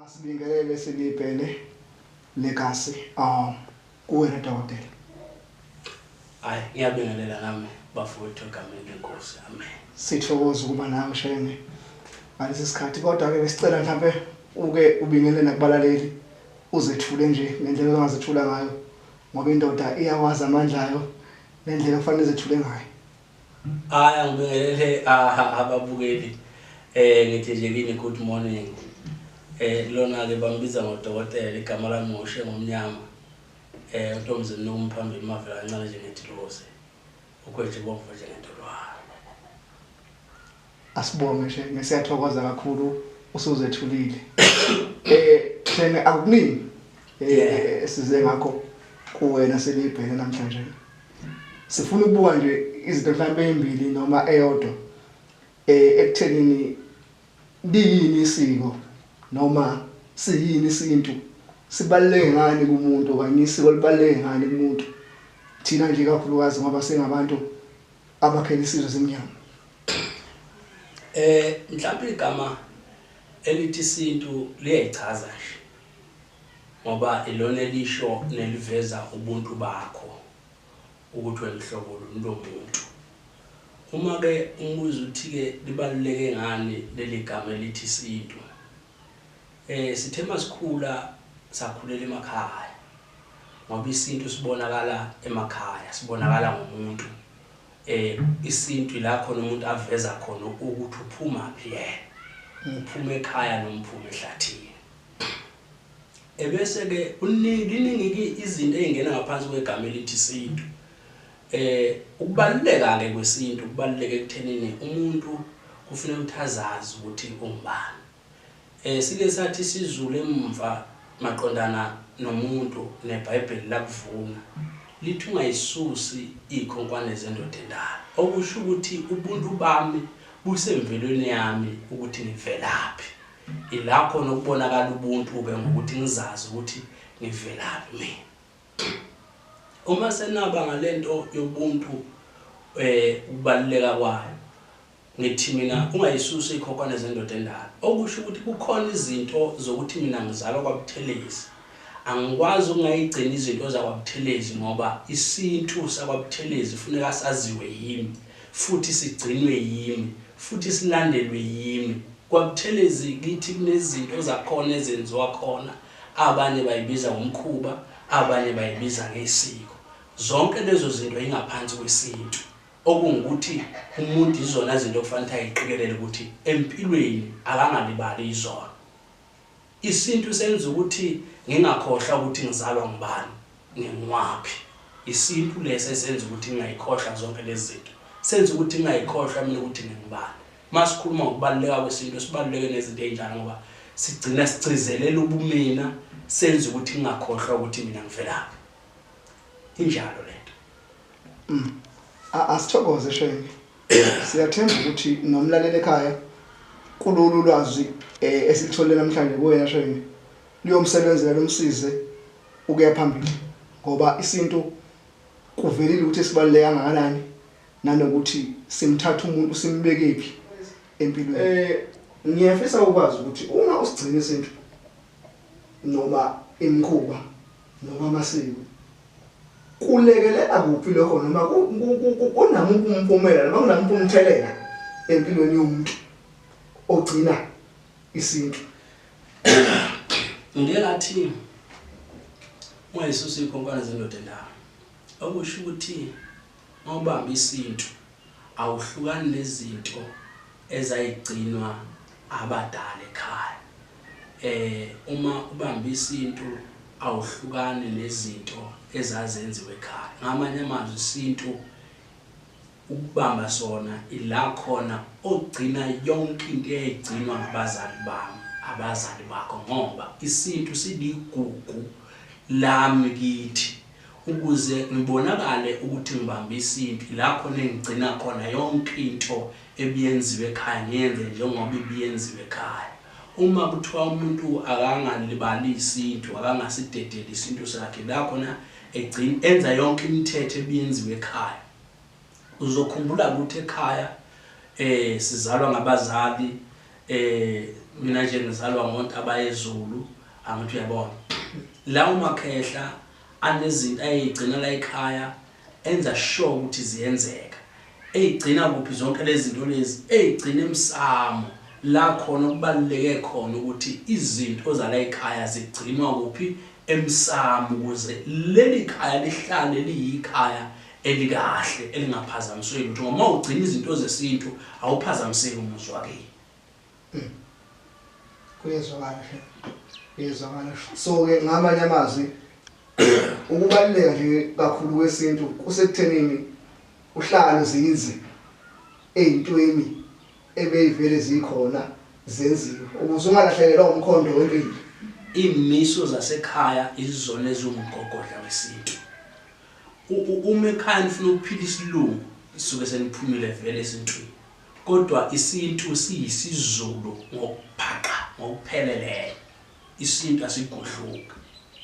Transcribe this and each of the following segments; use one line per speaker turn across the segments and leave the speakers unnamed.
Asibingelele silibhele legacy um kuwena dokotela.
Hayi ngiyabingelela nami bafowethu egameni lenkosi. Amen. Sithokoza ukuba
nawe shenge ngalesi sikhathi kodwa ke besicela mhlambe uke ubingelele nakubalaleli uzethule nje ngendlela ongazethula ngayo Ngoba indoda iyawazi amandla ayo nendlela okufanele zethule ngayo. Hayi
angibingelele aha ababukeli. Eh ngithi nje kini good morning. Eh lona ke bambiza ngodokotela igama lami ngoshe ngomnyama. Eh uNtombizini nomu phambili mavela kancane nje ngethilose. Ukhwethe bomvu nje ngentolwane.
Asibonge shenge siyathokoza kakhulu usuzethulile. Eh shenge akukuningi eh size ngakho kuwena selibheke namhlanje. Sifuna ukubuka nje izinto mhlawumbe ezimbili noma eyodwa eh ekuthenini liyini isiko noma siyini isintu sibaluleke ngani kumuntu okanye isiko libaluleke ngani kumuntu thina nje kakhulukazi ngoba singabantu abakhele isizwe simnyama eh
mhlawumbe igama elithi isintu liyayichaza nje ngoba ilona elisho neliveza ubuntu bakho ukuthi wemhlobo lo muntu uma ke umuzi uthi ke libaluleke ngani leli gama elithi isintu Eh sithe masikhula sakhulela emakhaya ngoba isintu sibonakala emakhaya sibonakala ngomuntu eh isintu ila khona umuntu aveza khona ukuthi uphuma phi yena uphuma ekhaya nomphuma ehlathini ebese ke uningi iningi izinto ezingena ngaphansi kwegama elithi isintu Ukubaluleka-ke kwesintu kubaluleke ekuthenini umuntu kufuneka ukuthi azazi ukuthi ungubani. Sike sathi isizulu emumva maqondana nomuntu neBhayibheli lakuvuna lithi ungayisusi izikhonkwane zendoda endala. Okusho ukuthi ubuntu bami busemvelweni yami ukuthi ngivelaphi. Ila khona okubonakala ubuntu-ke ngokuthi ngizazi ukuthi ngivelaphi mina. Uma senaba ngalento yobuntu ukubaluleka kwayo ngithi mina ungayisusi ikhokwane zendoda endala okusho ukuthi kukhona izinto zokuthi mina ngizalwa kwaButhelezi angikwazi ukungayigcina izinto zakwaButhelezi ngoba isintu sakwaButhelezi funeka saziwe yimi futhi sigcinwe yimi futhi silandelwe yimi kwaButhelezi kithi kunezinto zakhona ezenziwa khona Abanye bayibiza ngomkhuba, abanye bayibiza ngesiko. Zonke lezo zinto yingaphansi kwesintu, okungukuthi umuntu yizona zinto okufanele ukuthi ayiqikelele ukuthi empilweni akangalibali yizona. Isintu senza ukuthi ngingakhohlwa ukuthi ngizalwa ngubani, nginguwaphi. Isintu lesi esenza ukuthi ngingayikhohlwa zonke lezi zinto. Senza ukuthi ngingayikhohlwa mina ukuthi ngingubani. Uma sikhuluma ngokubaluleka kwesintu sibaluleke nezinto ey'njalo ngoba sigcina sigcizelela ubumina senza ukuthi ngingakhohlwa ukuthi mina ngivelaphi injalo le nto mm.
asithokoze shenge siyathemba ukuthi nomlaleli ekhaya kulolu lwazi eh, esilithole namhlanje kuwena shenge liyomsebenzela lomsize ukuya phambili ngoba isintu kuvelile ukuthi sibaluleke kangakanani Nanokuthi simthatha umuntu simbekephi empilweni. Eh ngiyafisa ukwazi ukuthi uma usigcina isintu noma imkhuba noma amasiko kulekelela kuphi lokho noma kunamuphi umphumela noma kunamuphi umthelela empilweni yomuntu ogcina isintu
ngeke ngathi uma Yesu sikhonkwana zendoda la okusho ukuthi Uma ubamba isintu awuhlukani nezinto ezayigcinwa abadala ekhaya. Eh uma ubamba isintu awuhlukani nezinto ezazenziwa ekhaya. Ngamanye amazwi isintu ukubamba sona ila khona ogcina yonke into eyayigcinwa ngabazali bami, abazali bakho ngoba isintu siligugu lami kithi. Ukuze ngibonakale ukuthi ngibambisa impi, lapho nengigcina khona yonke into ebiyenziwa ekhaya ngiyenze njengoba ibiyenziwa ekhaya. Uma kuthiwa umuntu akangalibali isintu, akangasidedeli isintu sakhe, ila khona egcin enza yonke imithetho ebiyenziwa ekhaya. Uzokhumbula ukuthi ekhaya eh sizalwa ngabazali eh mina nje ngizalwa ngoNtabayezulu angithi uyabona. La uMakhehla Anezinto ayeyigcina layikhaya enza sure ukuthi ziyenzeka. Eyigcina kuphi zonke lezinto lezi? Eyigcina emsamo la khona okubaluleke khona ukuthi izinto zalayikhaya zigcinwa kuphi? Emsamo ukuze lelikhaya lihlale liyikhaya elikahle elingaphazamiswe lutho ngoba uma ugcina izinto zesintu awuphazamiseki umuzi wakini. kuyezwakala hle
kuyezwakala so-ke ngamanye amazwi ukubaluleka nje kakhulu kwesintu kusekuthenini uhlale uzinze ey'ntweni ebeyivele zikhona zenziwe ukuze ungalahlekelwa umkhondo wempilo iy'miso
zasekhaya izizona eziwumgogodla wesintu uma ekhaya nifuna ukuphila isilungu isuke seniphumile vele esintwini Kodwa isintu siyisiZulu ngokubhaqa ngokupheleleyo. Isintu asigudluki.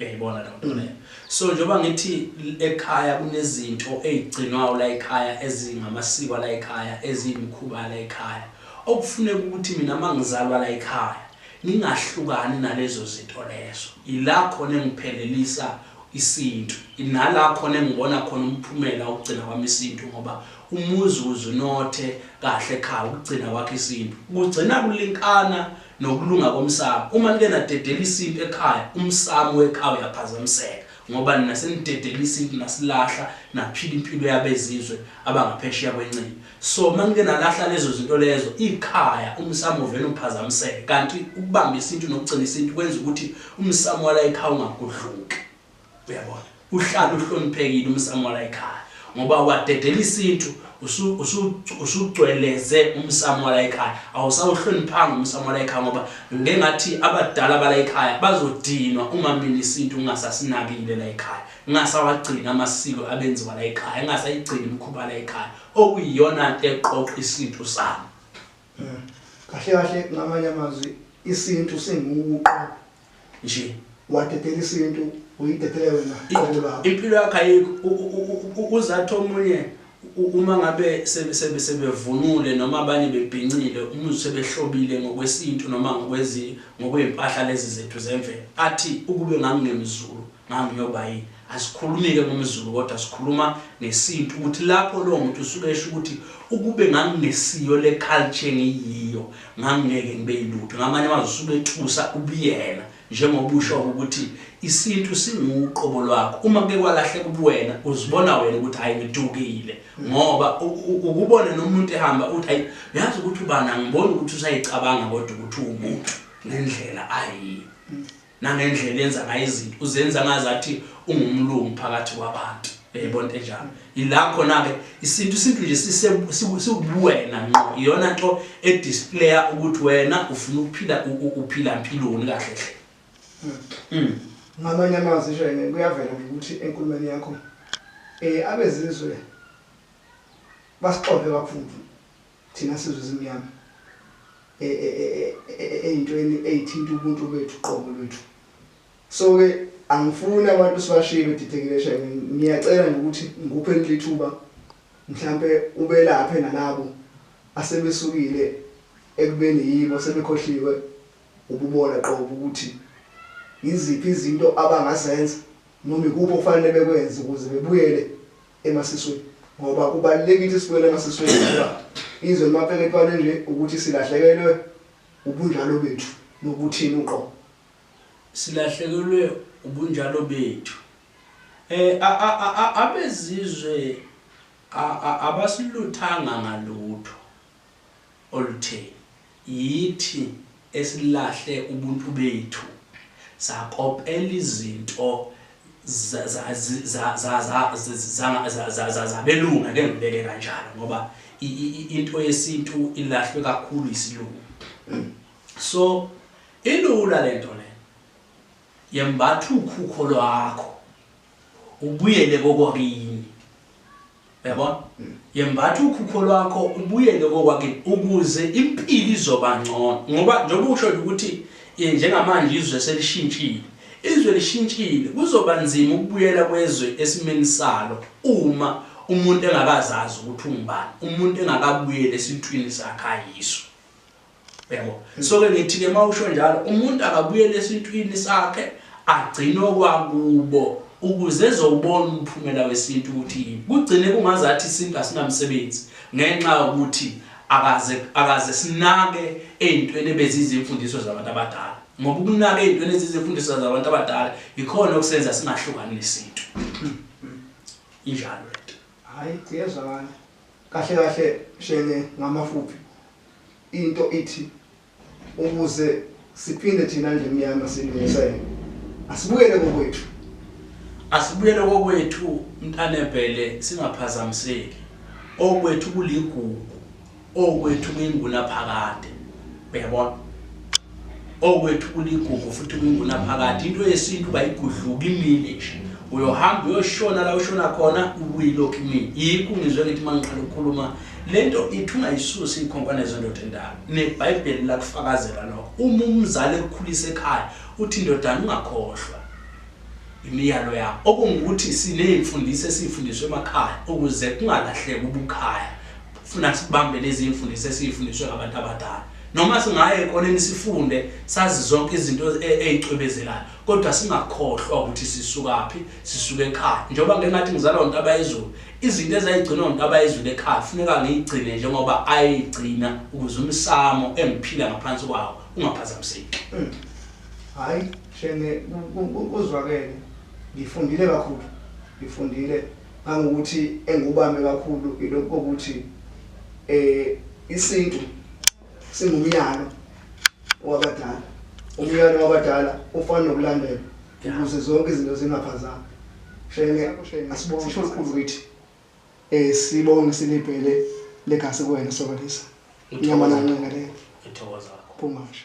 Uyayibona leyo nto leyo. So njengoba ngithi ekhaya kunezinto ey'gcinwayo layikhaya ezingamasiko alayikhaya, eziyimikhuba yalayikhaya, okufuneka ukuthi mina uma ngizalwa layikhaya ngingahlukani nalezo zinto lezo. Yila khona engiphelelisa isintu. Nala khona engibona khona umphumela wokugcina kwami isintu ngoba Umuzi uze unothe kahle ekhaya ukugcina kwakho isintu. Kugcina kulinkana nokulunga komsamo. Uma nike nadedela isintu ekhaya, umsamo wekhaya uyaphazamiseka ngoba nina senidedela isintu nasilahla naphila impilo yabezizwe abangaphesheya kwenqindi. So uma nike nalahla lezo zinto lezo, ikhaya umsamo uvele uphazamiseke kanti ukubamba isintu nokugcina isintu kwenza ukuthi umsamo wala ekhaya ungagudluki. uyabona uhlala uhloniphekile umsamo la ekhaya ngoba wadedela isintu usugcweleze umsamo la ekhaya awusawuhloniphanga umsamo la ekhaya ngoba ngengathi abadala bala ekhaya bazodinwa uma mina isintu ngingasasinakile la ekhaya ngingasawagcina amasiko abenziwa la ekhaya ngingasayigcini imikhuba la ekhaya okuyiyona nto eqoqa isintu sami
Kahle kahle ngamanye amazwi isintu singuqo nje
wadedela
isintu uyidedele wena qobo lakho impilo yakhe ayikho
U- u- u- u- uzathi omunye u- uma ngabe sebe- sebe- sebevunule noma abanye bebhincile umuzi sebehlobile ngokwesintu noma ngokwezi- ngokwey'mpahla lezi zethu zemvelo athi ukube nganginemzulu Mama uyoba yini? Asikhulumike ngomZulu kodwa sikhuluma ngesintu ukuthi lapho lowo muntu usuke esho ukuthi ukube ngangingesiyo le culture engiyiyo ngangingeke ngibe yilutho. Ngamanye amazwi usuke ethusa ubuyena njengoba usho ukuthi isintu singuqobo lwakho. Uma kuke kwalahleka ubuwena uzibona wena ukuthi hayi ngidukile ngoba ukubona nomuntu ehamba uthi hayi uyazi ukuthi ubani angiboni ukuthi usayicabanga kodwa ukuthi uwumuntu ngendlela ayiyo. nangendlela enza ngayo izinto uzenza ngazathi ungumlungu phakathi kwabantu yayibona into enjalo yila khona-ke isintu isintu nje siwubuwena nqo iyona nto edisplaya ukuthi wena ufuna ukuphila uphila mpiloni kahle hle hmm. hmm. ngamanye
amazwi nje kuyavela ukuthi enkulumeni yakho um abezizwe basixove kakhulu Thina sizwe ezimnyama e, e, e, eyintweni eyithinta ubuntu bethu qobo lwethu so ke angifuni abantu sibashiye bedidekile shame ngiyacela nje ukuthi ngikuphe lithuba mhlambe ubelaphe nalabo asebesukile ekubeni yibo sebekhohliwe ububona qobo ukuthi yiziphi izinto abangazenza noma ikuphi okufanele bekwenze ukuze bebuyele emasisweni ngoba kubalulekile ukuthi sibuyele emasisweni ngoba izwe limapele ekubane nje ukuthi silahlekelwe ubunjalo bethu nokuthini uqobo
silahlekelwe ubunjalo bethu eh abezizwe abasiluthanga ngalutho olutheni? Yithi esilahle ubuntu bethu sakopela izinto zabelungu, ake ngibeke kanjalo ngoba into yesintu ilahlwe kakhulu yisilungu. So ilula le nto le, yembatha ukhukho lwakho ubuyele kokwakini. Uyabona? Yembatha ukhukho lwakho ubuyele kokwakini ukuze impilo izoba ngcono. Ngoba njengoba usho ukuthi eh, njengamanje izwe selishintshile. Izwe lishintshile, kuzoba nzima ukubuyela kwezwe esimeni salo uma umuntu engakazazi ukuthi ungubani, umuntu engakabuyeli esintwini sakhe ayizwe. Yabo. So ke ngithi ke mawusho njalo umuntu akabuyele esintwini sakhe agcine okwakubo ukuze ezobona umphumela wesintu ukuthi yini. Kugcine kungazathi isintu asinamsebenzi ngenxa yokuthi akaze akaze sinake ezintweni ebezizimfundiso zabantu abadala. Ngoba ukunaka ezintweni ezizimfundiso zabantu abadala ikhona okusenza singahlukani nesintu. Injalo lento. Hayi kuyezwakala.
Kahle kahle shenge ngamafuphi into ithi ukuze siphinde thina nje mnyama silungisa yena asibuyele kokwethu
asibuyele kokwethu mntanebhele singaphazamiseki okwethu kuligugu okwethu kuyinguna phakade uyabona okwethu kuligugu futhi kwingunaphakade into yesintu bayigudluka imile nje uyohamba uyoshona la ushona khona ubuyilokhu imile yikho ngizwe ngithi uma ngiqala ukukhuluma le nto ithi ungayisusi iy'khonkwane zendoda endala nebhayibheli lakufakazela lokho uma umzali ekukhulisa ekhaya uthi indodana ungakhohlwa imiyalo yakho okungukuthi siney'mfundiso esiyifundiswa emakhaya ukuze kungalahleki ubukhaya funa sibambe lezi imfundiso esiyifundiswe ngabantu abadala noma singaye ekoneni sifunde sazi zonke izinto e, eyicwebezelayo kodwa singakhohlwa ukuthi sisukaphi sisuke ekhaya njengoba ngengathi ngizalwa untaba yezulu izinto ezayigcina untaba yezulu ekhaya funeka ngiyigcine njengoba ayigcina ukuze umsamo engiphila ngaphansi kwawo ungaphazamiseki hmm.
hayi shenge uzwakele ngifundile kakhulu ngifundile Ngangokuthi engikubambe kakhulu ilokhu kokuthi eh isintu singumyalo wabadala. Umyalo wabadala ufana nokulandela ukuze zonke izinto zingaphazami. Shenge asibonge kusho kukhulu kithi. Eh sibonge silibhele legazi kuwena sokalisa. Inyama
nanqinga
le. Ngithokoza kakhulu. Phuma nje.